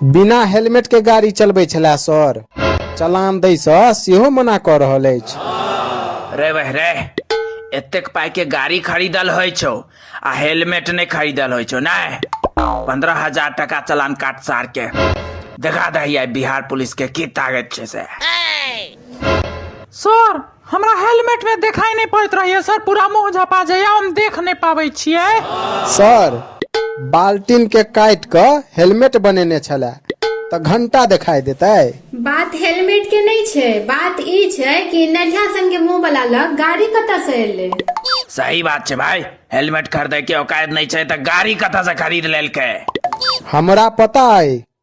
बिना हेलमेट के गाड़ी चलबै छला सर चलान दै सँ सेहो मना कऽ रहल अछि रे वह रे एतेक पाई के गाड़ी खरीदल होइ छौ आ हेलमेट नहीं खरीदल होइ छौ नहीं पंद्रह हजार टका चलान काट सार के देखा दही बिहार पुलिस के की ताकत छै से सर हमरा हेलमेट में देखाई नहीं पड़त रहिए सर पूरा मुंह झपा जाइए हम देख नहीं पावे छिए सर बाल्टीन के काट के हेलमेट बनेने छला तो घंटा दिखाई देते बात हेलमेट के नहीं छे बात ई छे कि नढ़िया सन के मुंह वाला लग गाड़ी कता से एले सही बात छे भाई हेलमेट खरीदे के औकात नहीं छे तो गाड़ी कता से खरीद लेलके हमरा पता है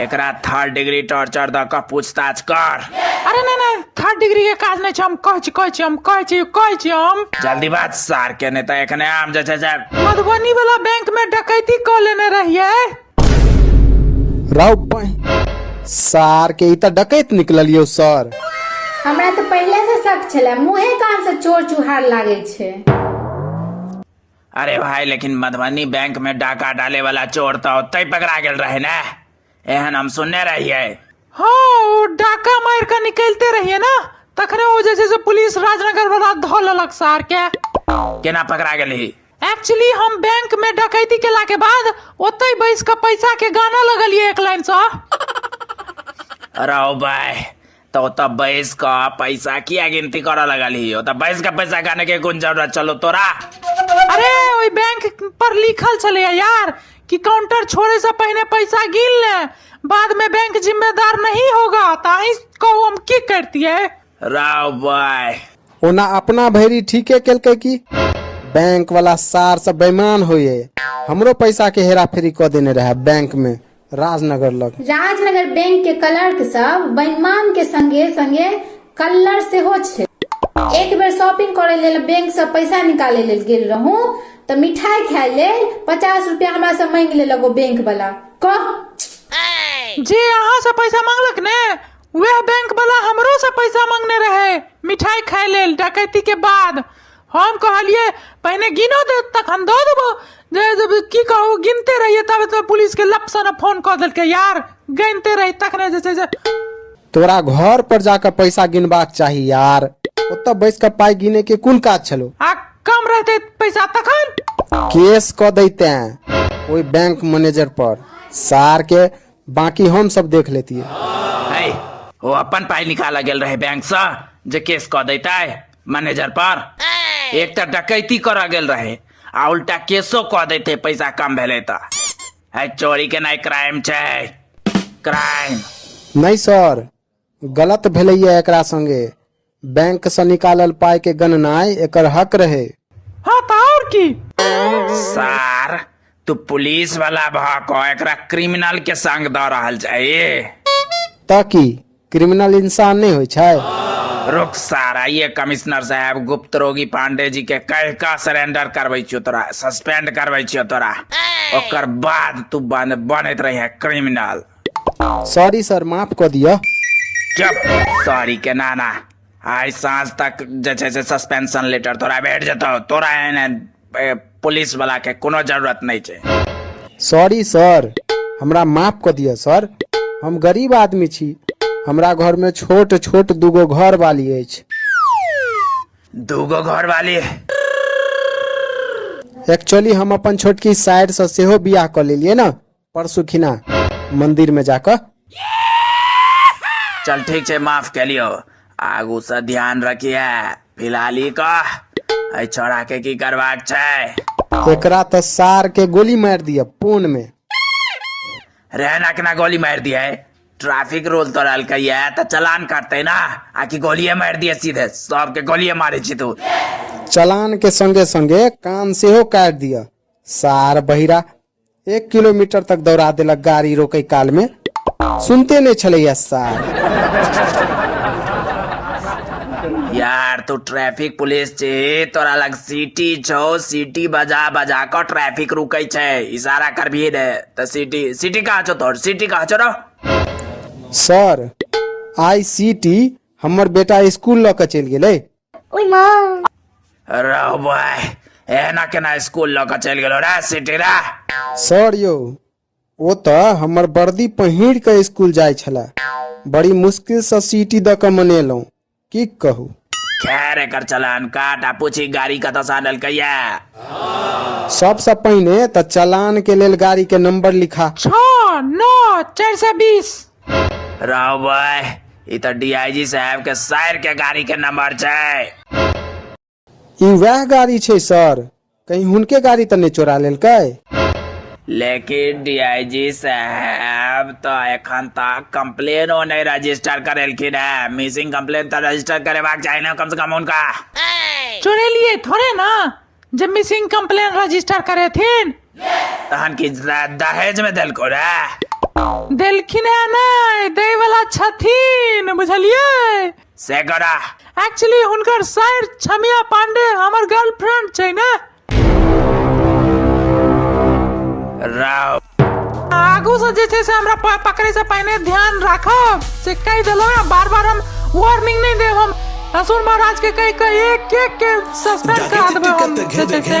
एकरा थर्ड डिग्री टॉर्चर दऽ कऽ पूछताछ कर अरे नहि नहि थर्ड डिग्री के काज नहि छै हम कहै छी कहै छी हम कहै छी कहै छी हम जल्दी बात सार के नहि तऽ एखने आम जे छै से मधुबनी वाला बैंक में डकैती कऽ लेने रहियै राव पाई सार के ई तऽ डकैत निकललियौ सर हमरा तऽ पहिले से शक छलै मुँहे कान से चोर चुहार लागै छै अरे भाई लेकिन मधुबनी बैंक में डाका डाले वाला चोर तो ओते पकड़ा गेल रहे ने एहन हम सुनने रहिए हाँ ओ डाका मार के निकलते रहिए ना तखने ओ जे छै से पुलिस राजनगर वाला धो लेलक सार के केना पकड़ा गेली एक्चुअली हम बैंक में डकैती केला के बाद ओते बैस के पैसा के गाना लगलिए एक लाइन से अरे ओ भाई तो ओतऽ बैस क पैसा किया गिनती करऽ लगल ही ओतऽ बैस क पैसा गाने के कोन जरूरत चलो तोरा अरे ओहि बैंक पर लिखल छलैया यार कि काउंटर छोड़े से पहिने पैसा गिन ले बाद में बैंक जिम्मेदार नहीं होगा ताही कहू हम की करतिए राव बाय ओना अपना भैरी ठीके केलकै की बैंक वाला सार से बेईमान होइए हमरो पैसा के हेरा फेरी कऽ देने रहे बैंक में राजनगर लग राजनगर बैंक के क्लर्क सब बैमान के संगे संगे कल्लर सेहो छै एक बेर शॉपिंग करे लेल बैंक से पैसा निकाले लेल गेल रहूं तऽ मिठाई खाय लेल पचास रुपया हमरा से मांगि लेलक ओ बैंक वाला कह जे अहाँ से पैसा मांगलक ने वह बैंक वाला हमरो से पैसा मांगने रहे मिठाई खाय लेल डकैती के बाद हम कहलिए पहिने गिनो दे तखन दऽ देबो जे जे की कहू गिनते रहिए तब तऽ पुलिस के लप से ने फोन कऽ देलकै यार गिनते रही तखने जे छै से तोरा घर पर जाकर पैसा गिनबाक चाही यार ओतऽ बैस कऽ पाइ गिने के कोन काज छलो आ कम रहते पैसा तखन केस कऽ दैते ओहि बैंक मैनेजर पर सार के बाकी हम सब देख लेतिए है ओ अपन पाइ निकालऽ गेल रहै बैंकसँ जे केस कऽ दैतै मैनेजर पर एक तऽ डकैती करऽ गेल रहे आ उल्टा केसो कऽ देते पैसा कम भेलै तऽ है चोरी केनाइ क्राइम छै क्राइम नहि सर गलत भेलैए एकरा संगे बैंकसँ निकालल पाइके गणनाइ एकर हक रहै हाँ तऽ आओर की सार तू पुलिस वाला भऽ कऽ एकरा क्रिमिनल के संग दऽ रहल छै तऽ की क्रिमिनल इंसान नहि होइ छै रुक सारा ये कमिश्नर साहब गुप्त रोगी पांडे जी के कह का सरेंडर करबै छियो तोरा सस्पेंड करबै छियो तोरा ओकर बाद तू बन बनैत रहे क्रिमिनल सॉरी सर माफ कऽ दिअ चुप सॉरी के नाना आइ साँझ तक जे छै से सस्पेंशन लेटर तोरा भेट जेतौ तोरा एहन ए, पुलिस वाला के कोनो जरूरत नहीं छे सॉरी सर हमरा माफ कऽ दिअ सर हम गरीब आदमी छी हमरा घरमे छोट छोट दूगो घर वाली अछि दूगो घर वाली एक्चुअली हम अपन छोटकी साइडसँ सेहो बियाह कऽ लेलियै ने परसू खिना मंदिर में जाकर चल ठीक छै माफ के लियो आगू से ध्यान रखिए फिलहाल ई कह एहि छोड़ा के की करबाक छै एकरा तो सार के गोली मार दिया पोन में रहना के ना गोली मार दिए ट्रैफिक रूल तो रहल कहिए तो चलान काटते ना आकि गोलिये मार दिए सीधे सबके गोलिये मारे छी तू चलान के संगे संगे कान सेहो काट दिया सार बहिरा एक किलोमीटर तक दौड़ा देलक गाड़ी रोके काल में सुनते नहीं छलैया सार यार तू ट्रैफिक पुलिस छे तोरा लग सिटी छो सिटी बजा बजा कर ट्रैफिक रुकै छै इशारा करबिए ने त सिटी सिटी कहाँ छो तोर सिटी कहाँ छो रो सर आई सी टी हमर बेटा स्कूल लऽ कऽ चलि गेलै ओय माँ रौ बॉय एना केना स्कूल लऽ कऽ चलि गेलो रे सिटी रे सर यौ ओ तऽ हमर वर्दी पहिर कऽ स्कूल जाइ छलए बड़ी मुश्किलसँ सीटी दऽ कऽ मनेलहुँ की कहू खैर एकर चलान काट आ पूछी गाड़ी कतऽ से आनल कहिया सबसँ पहिने तऽ चलानके लेल गाड़ीके नम्बर लिखा छओ नओ चारि सए बीस राव भाई ई तऽ डीआईजी साहब के सर के गाड़ी के नंबर छै ई वएह गाड़ी छै सर कहीं हुनके गाड़ी तऽ नहि चोरा लेलकै लेकिन डीआईजी साहब तऽ एखन तक कंप्लेनो नहि रजिस्टर करेलखिन है मिसिंग कंप्लेन तऽ रजिस्टर करेबाक चाही ने कम से कम हुनका चोरेलिए थोड़े ना जे मिसिंग कंप्लेन रजिस्टर करेथिन तहन कि दहेज में देलको रे देलखिन है नै दै वाला छथिन बुझलिए से करा एक्चुअली हुनकर सर छमिया पांडे हमर गर्लफ्रेंड छै ने राव आगू से जे छै से हमरा प- पकड़े से पहिने ध्यान राखब से कहि देलहुँ ने बार बार हम वार्निंग नहीं देब हम असुर महाराज के कहि के एक एक के सस्पेंड करा देबै हम से छै से